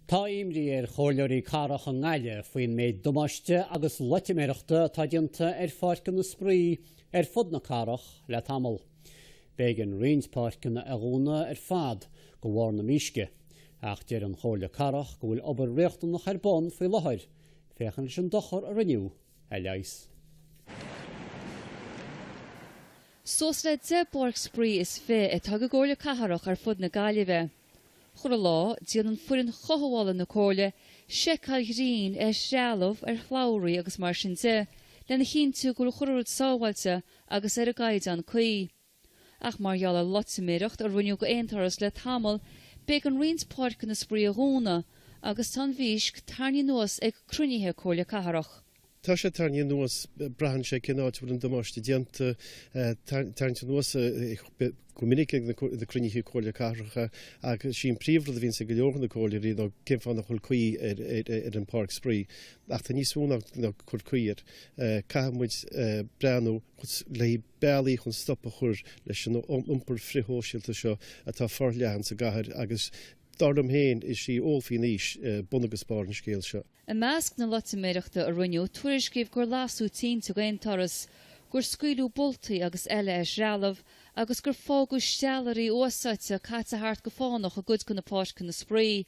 Tá imní ar chomhairleoirí Cathrach i nGaillimh faoin méid damáiste agus loitiméireachta atá déanta ar pháirceanna spraoi ar fud na cathrach le tamall. B'éigean roinnt páirceanna a dhúnadh ar fad de bharr na mísce, ach deir an Chomhairle Cathrach go bhfuil obair riachtanach ar bun faoi láthair, féachaint leis an dochar a rinneadh a leigheas. Suas le deich bpáirc spraoi is fiche atá ag an gComhairle Cathrach ar fud na Gaillimhe. Chuile lá, déanann foireann chothabhála na Comhairle seiceáil ghrinn ar threalamh, ar shlabhraí agus mar sin de, lena chinntiú go bhfuil chuile rud sábháilte agus ar an gcaighdeán cuí. Ach mar gheall ar loitiméireacht a rinneadh d'aon turas le tamall, b'éigean roinnt páirceanna spraoi a dhúnadh agus tá an mhísc tarraingthe anuas ag cruinnithe Comhairle Cathrach. Tá sé tarraingthe anuas, braitheann sé cén áit a bhfuil an damáiste déanta, tarraingthe anuas go minic ag na cruinnithe Comhairle Cathrach agus sé an príomhrud a bhíonns ag go leor de na comhairleoirí ná cén fáth nach bhfuil caoi ar an bpáirc spraoi. Ach tá níos mó ná cur caoi air, caithfidh muid breathnú le haghaidh bealaí chun stop a chur leis an iompar frithshóisialta seo atá forleathan sa gcathair agus dar liom féin is í ól faoin aois bun agus barr an scéil seo. I measc na loitiméireachta a rinneadh, tuairiscíodh gur lasadh tinte d'aon turas, gur scaoileadh boltaí agus eile ar threalamh, agus gur fágadh steallairí úsáidte caite thart go fánach i gcuid de na páirceanna spraoi.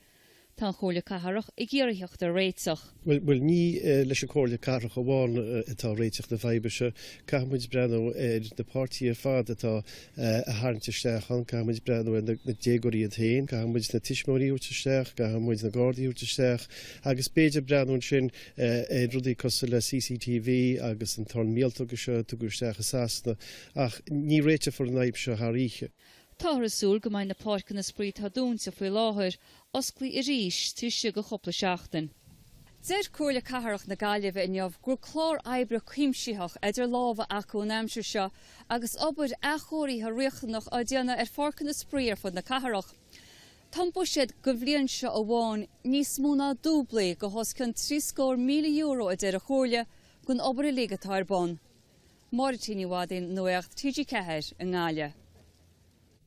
Tá an Chomhairle Cathrach ag iarraidh theacht ar réiteach. Bhuel, ní leis an Chomhairle Cathrach amháin atá réiteach na faidhbe seo. Caithfidh muid breathnú ar na páirtithe ar fad atá a tharraingt isteach ann. Caithfidh muid breathnú ar na déagóirí iad féin, caithfidh muid na tuismitheoirí a thabhairt isteach, caithfidh muid na Gardaí a thabhairt isteach agus b'fhéidir breathnú ansin ar rudaí cosúil le CCTV agus an torann míoltóga seo a tugadh isteach i Sasana ach ní réiteofar an fhadhb seo thar oíche. Táthar ag súil go mbeidh na páirceanna spraoi atá dúnta faoi láthair osclaithe arís taobh istigh de chúpla seachtain. Deir Comhairle Cathrach na Gaillimhe inniu go bhfuil clár oibre cuimsitheach idir lámha acu an aimsir seo agus obair athchóirithe riachtanach á déanamh ar pháirceanna spraoi ar fud na cathrach. Tá an buiséad don bhliain seo amháin níos mó ná dúblaithe go hos cionn trí scór míle euro a deir an Chomhairle don obair uilig atá ar bun. Máire T. Ní Mhadaoin, Nuacht TG4 i nGaillimh.